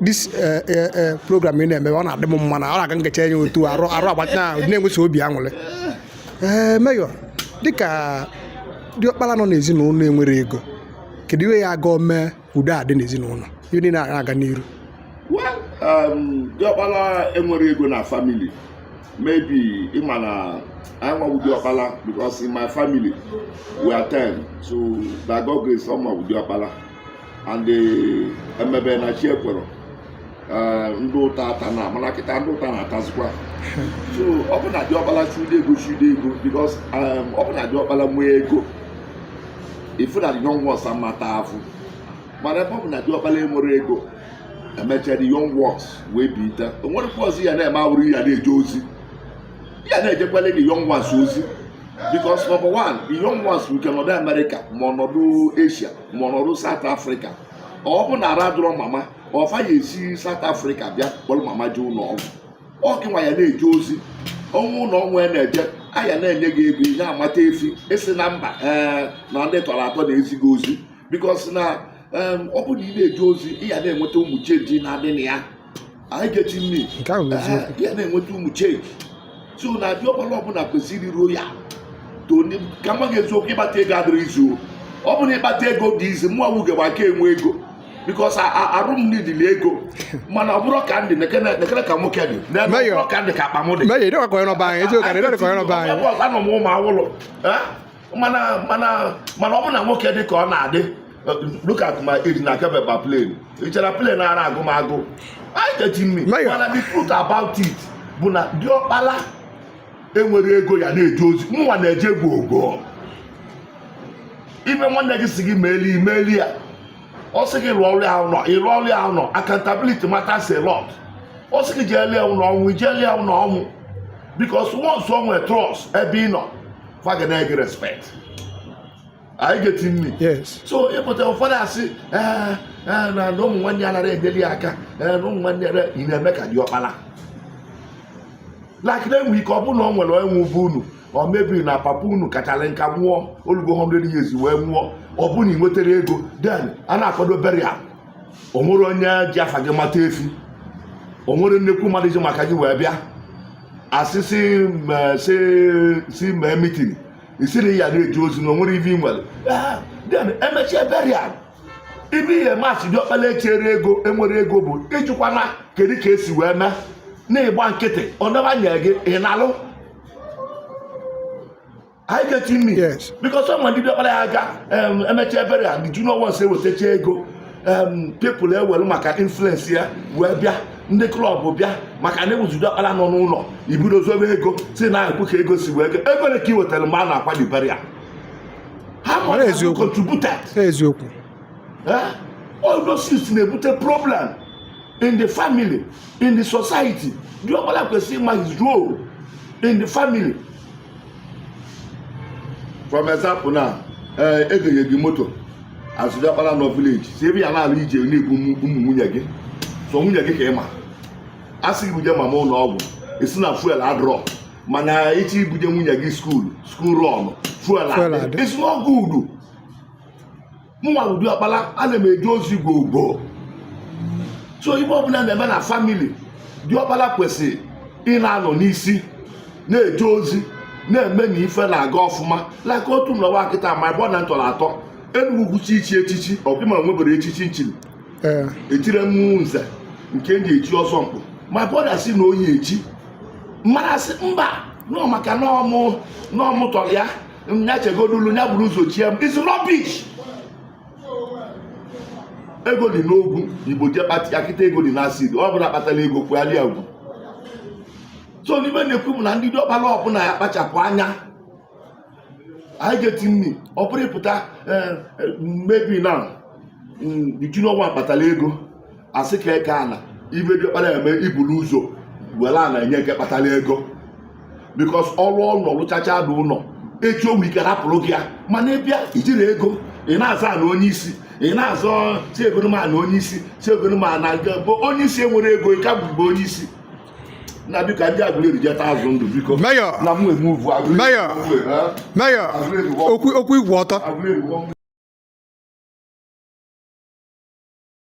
this eh, eh, eh, program ị na-eme ọ na-adị m mma na ọ na-aga nkecha enye otu arụ arụ agbacha na-enwesi obi aṅụrị ee Mayor dịka diọkpala nọ n'ezinụlọ enwere ego kedu ihe ya ga-eme udo adị n'ezinụlọ ihe niile na-aga n'iru um, diọkpala enwere ego na family maybe ị ma na anyị nwa wụ diọkpala because in my family we are ten so by God grace ọ mụwa wụ diọkpala and emebe na chi ekwere eh, ndị ụta ata na mana kịta ndị ụta na-atazikwa so ọ bụ na diọkpala chude ego chude ego because eh, ọ bụ na diọkpala nwee ego ị fụ na the young ones amata afụ mana ebe ọ bụ na diọkpala enwere ego emechara the young ones wee bute o nwerekwa ọzọ ya na-eme awụrọ ya na-eje ozi ya na-ejekwala the young ones ozi because number one the young ones nke nọdụ America ma ọ nọdụ Asia ma ọ nọdụ South Africa ọ bụ na arụ adịrọ mama ọ fa ya-esi South Africa bịa kpọrọ mama je ụlọ ọgwụ ọ gịnwa ya na-eje ozi ọnwụ ụlọ ọnwụ ya na-eje a ya na-enye gị ego ihe amata efi ị sị na mba ee eh, na ndị ị tọrọ atọ na-ezi gị ozi because na ọ bụ na ị na-eje ozi ị ya na-enweta ụmụ change na-adị na ya are you getting me ị ya na-enweta ụmụ change so na diọkpala ọbụla kwesịrị iruo ya Tony ka m gwa gị eziokwu ịkpata ego adịrọ easy ọ bụrụ ịkpata ego dị easy mụnwa wụ gaba aka enwe ego because arụ m needili ego mana ọ bụrụ ka m dị nekene ka nwoke dị n'ebe ka m dị ka akpa m dị anọ m ụmụ awụlụ mana mana mana ọ bụ na nwoke dị ka ọ na-adị look at my age na kebeba plane ị chere plane ara agụ m agụ are you getting me mana the truth about it bụ na diọkpala enwere ego ya na-eje ozi mụnwa na-eje gwogwo ime nwanne gị sị gị meeli i meeli ya ọ sị gị rụọrọ ya ụlọ ị rụọrọ ya ụlọ accountability matters a lot ọ sị gị jeelie ụlọ ọnwụ i jeelie ụlọ ọnwụ because once o nwere trust ebe ị nọ fa ga na-enye gị respect are you getting me so ị pụta ụfọdụ asị eh, eh, na ụmụ nwanne ya anara enyeli ya aka eh, na ụmụ nwanne ya na-eme ka diọkpala like na-enwe ike ọ bụrụ na ọ nwere ọnwụ be unu or maybe na papa unu kachara nka nwụọ o lugo 100 years wee nwụọ ọ bụrụ na ị nwetarọ ego then a na-akwado burial o nwerọ onye ji afa gị mata efi o nwerọ nnekwu mmadụ ji maka gị wee bịa asị si ma- si si mee meeting ị sị na ị ya na-eje ozi na o nwerọ ive i nwere Ah, then emechaa burial ive i ya-eme as diọkpala ejirọ ego enwere ego bụ ị jụkwana kedu ka e si wee mee na ị gba nkịtị ọ na-enye gị ị nalụ Are you getting me? Yes. Because some ndị diọkpara ya aga um, emecha burial the junior ones ewetacha ego um, people ewere maka influence ya wee bịa ndị club bịa maka na ewuzu diọkpara nọ n'ụlọ ebido zọbe ego sị na ekwu ka ego si wee ego ego one ka i wetara mgbe a na-akwa the burial how much have you contributed eziokwu eh? all those things na-ebute problem in the family in the society diọkpara kwesịrị ịma his role in the family for example now eh, e gonye gị moto as diọkpara nọ village si ebe ya na-ala ije na-ebu ụmụ nwunye gị sọ nwunye gị ka ị ma a sị i buje mama ụlọ ọgwụ ị sị na fuel adịrọ mana echi i buje nwunye gị school school run fuel adị it's not good mụnwa bụ diọkpara ana m eje ozi gwogwo so ife ọbụla na-eme na family diọkpara kwesịrị ị na-anọ n'isi na-eje ozi na-eme na ife na-aga ọfụma like otu m nọwa kịta my brother m tọrọ atọ enugwu gwuchi ichi echichi ọ bụ m enweberọ echichi m chiri etire mmụọ nze nke m ji echi ọzọ mkpụ my brother sị na ọ ya-echi m ma-asị mba na ọ maka na ọ mụ na ọ mụ tọrọ ya nya chegodulu nya buru ụzọ chie m is rubbish ego dị n'ogwu igbo je kpata ya kịta ego dị n'acid ọ bụrụ ọ kpatara ego karịa gị so n'ife m na-ekwu bụ na ndị diọkpara ọbụla ya kpachapụ anya are you getting me ọ bụrụ ị pụta eh, eh, maybe now mm, the junior one kpatara ego a sị ka e kee ana ife diọkpara eme i bulu ụzọ were ana enye nke kpatara ego because ọ rụọ ụlọ ọ lụchachaa the ụlọ echi o nwee ike rapụrụ gị ya mana ị bịa ijirọ ego ị na-aza na onye isi ị na-azọ si egonoma na onye isi si egonoma na nke bụ onye isi enwerọ ego ị ka bụgbe onye isi na biko ndị Agụleri jeta azụ ndụ biko Mayor. na m eme uvu Agụleri Mayor. Mayor, okwu okwu igwe ọtọ Agụleri